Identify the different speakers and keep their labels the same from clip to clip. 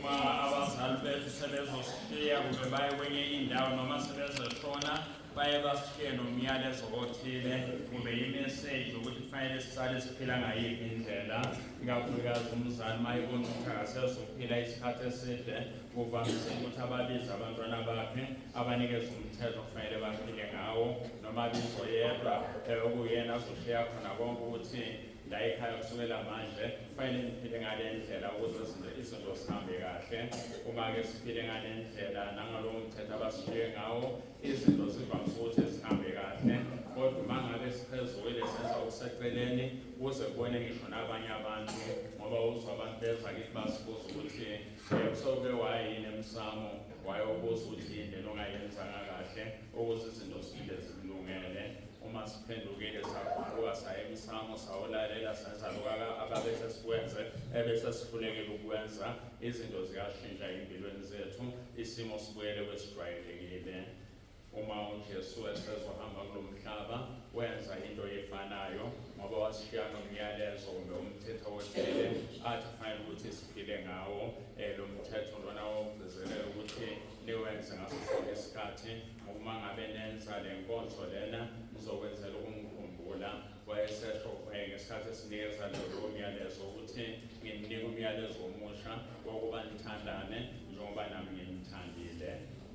Speaker 1: uma abazali bethu sebezoshiya kumbe baye kwenye indawo noma sebezoshona baye bashiye nomyalezo othile kumbe imeseji ukuthi kufanele sisale siphila ngayiphi indlela ikakhulukazi umzali uma ebona ukuthi akasezophila isikhathi eside kuvamise ukuthi ababize abantwana bakhe abanikeze umthetho kufanele baphile ngawo noma bizo yedwa eh, okuyena azoshiya khona konke ukuthi ndayikhala kusukela manje kufanele ngiphile ngale ndlela ukuze izinto izinto zihambe kahle uma-ke siphile ngale ndlela nangalowo mthetho abasishiye ngawo izinto zivamise ukuthi zihambe kahle kodwa uma ngabe siphezukile senza okuseceleni kuze kubone ngisho nabanye abantu ngoba uzwa abantu beza kithi basibuza ukuthi um eh, soke wayini emsamo wayobuza ukuthi yini lento ongayenzanga kahle ukuze izinto siphinde zikulungele uma siphendukile saguquka saya emsamo sawulalela senza lokaka ababese sikwenze ebese sifunekile ukwenza izinto ziyashintsha ey'mpilweni zethu isimo sibuyele kwesijwayelekile uma uJesu esezohamba kulo mhlaba wenza into efanayo ngoba wasishiya nomyalezo kumbe umthetho othile athi kufanele ukuthi siphile ngawo um lo mthetho lona wokugcizelela ukuthi niwenze ngaso sonke isikhathi uma ngabe nenza le nkonzo lena nizokwenzela ukungikhumbula wayesesho eh, ngesikhathi esinikeza lolo myalezo ukuthi ngininika umyalezo omusha wokuba nithandane njengoba nami nginithandile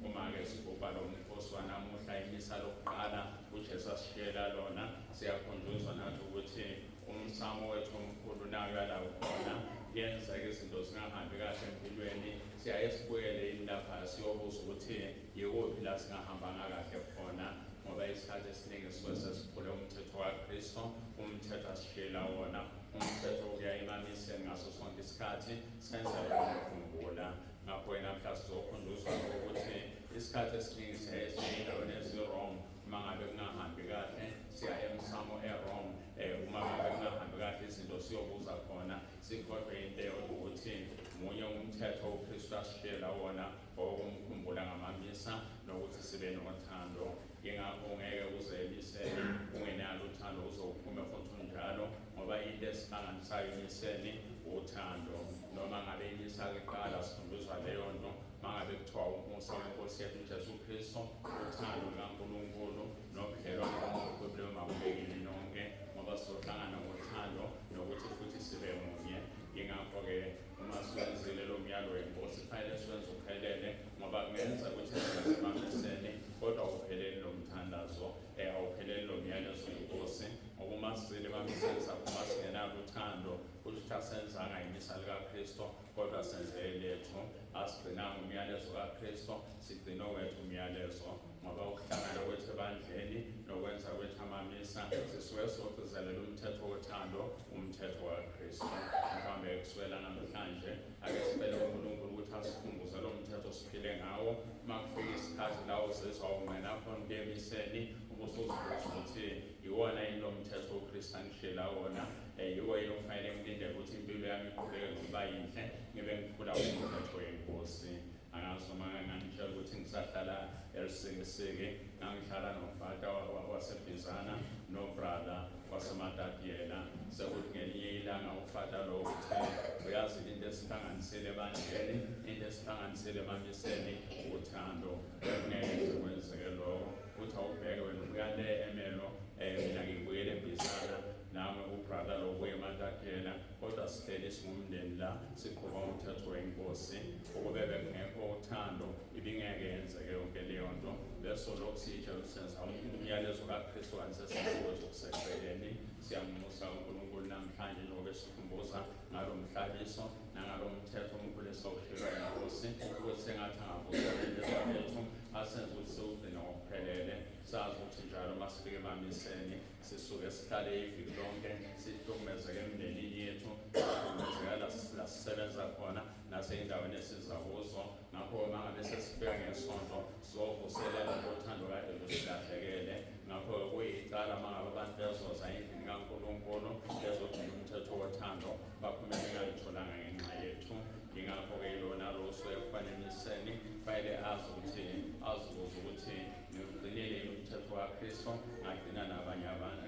Speaker 1: uma-ke sigubha lo mkhosi wanamuhla imisa lokuqala ujesu asishiyela lona siyakhunjuzwa nathi ukuthi umsamo wethu omkhulu nayo yalawo khona kuyenzeka izinto zingahambi kahle empilweni siyaye sibuyele yini lapha siyobuza ukuthi yikuphi la singahambanga kahle khona ngoba isikhathi esiningi sisuke sesiphule umthetho wakristo umthetho asishiyela wona umthetho ukuya emamiseni ngaso sonke isikhathi senza yonakhumbula ngakho yena mhla sizokhunduzwa ukuthi isikhathi esiningi siyaye siyendaweni ezi-wrong uma ngabe kungahambi kahle siya emsamo e-wrong um uma ngabe kungahambi kahle izinto siyobuza khona Sikhohlwe into ukuthi munye umthetho uKristu asishiyela wona owokumkhumbula ngamamisa nokuthi sibe nothando. Yingakho ungeke uzemisele ungenalo uthando uzowuphume futhi unjalo ngoba into esihlanganisayo emiseni uthando. Noma ngabe imisa kuqala sifundiswa leyo nto mangabe kuthiwa umusa wenkosi yethu uJesu Kristu uthando lukaNkulunkulu nobudlelwane obuqoqileyo makubekeni nonke ngoba sizohlangana ngothando nokuthi futhi sibe munye yingakho-ke uma siwenzile lo myalo wenkosi kufanele siwenze uphelele ngoba kungenza ukuthi simaphesene kodwa awupheleli lo mthandazo um awupheleli lo myalezo wenkosi ngoba uma sizile bamisenza uma singenalo uthando kusho ukuthi asenzanga imisa likakristu kodwa senze lethu asigcinanga umyalezo kakristu sigcine wethu umyalezo ngoba ukuhlangana kwethu ebandleni nokwenza kwethu amamisa sisuke sogcizelela umthetho wothando umthetho wakristu mhlawumbe kusukela namhlanje ake sibele unkulunkulu ukuthi asikhumbuze lo mthetho siphile ngawo uma kufika isikhathi la uzizwa ungqena khona kuyemiseni ubusuzibuza ukuthi yiwona yini lo mthetho wokristu angishela wona um yiwo yini okufanele ngilindele ukuthi impilo yami iqhubeke ngokuba yinhle ngibe ngiphula umthetho wenkosi angazi noma ngangitshela ukuthi ngisahlala elisekeseke ngangihlala nofata wasebhizana nobrother wasematadiyela sekuthi ngelinye ilanga ufata lowo uthe uyazi into esihlanganisile ebandleni into esihlanganisile emamiseni uthando bekungeke nje kwenzeke loko uthi awubheke wena ubuya le emelo um mina ngibuyele ebhizana nami ubrother lokuye ematadiyela kodwa sihleli singumndeni la siqhuba umthetho wenkosi Ukube bekungekho uthando ibingeke yenzeke yonke leyo nto besolokhu siyitshela senza umyalezo kaKristu kanti sesikuwe zokuseceleni siyamunxusa uNkulunkulu namhlanje njengoba esikhumbuza ngalo mhlabiso nangalo mthetho omkhulu esawushilwa inkosi ukuthi sengathi angavuseleleza bethu asenze ukuthi siwugcine ngokuphelele sazi ukuthi njalo uma sifike emamiseni sisuke sihlale iviki lonke sihlukumezeke emndenini yethu sihlukumezeka la sisebenza khona naseyindaweni esiza kuzo ngakho uma ngabe sesifika ngesonto sizovuselela ngothando kade lusilahlekele ngakho kuyicala uma ngabe abantu bezoza endlini kankulunkulu bezogcina umthetho wothando baphume bengalutholanga ngenxa yethu yingakho-ke ilona loso ekufaneliseni kufanele azi ukuthi azibuze ukuthi ngiwugcinile yini umthetho wakristo ngagcina nabanye abantu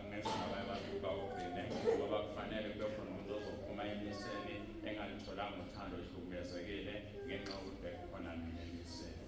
Speaker 1: ngenza nabanye abantu ukuba ugcine ngoba kufanele kube khona umuntu ozophuma emiseni engalutholanga uthando ihlukumezekile ngenxa yokuthi bekukhona mina elisele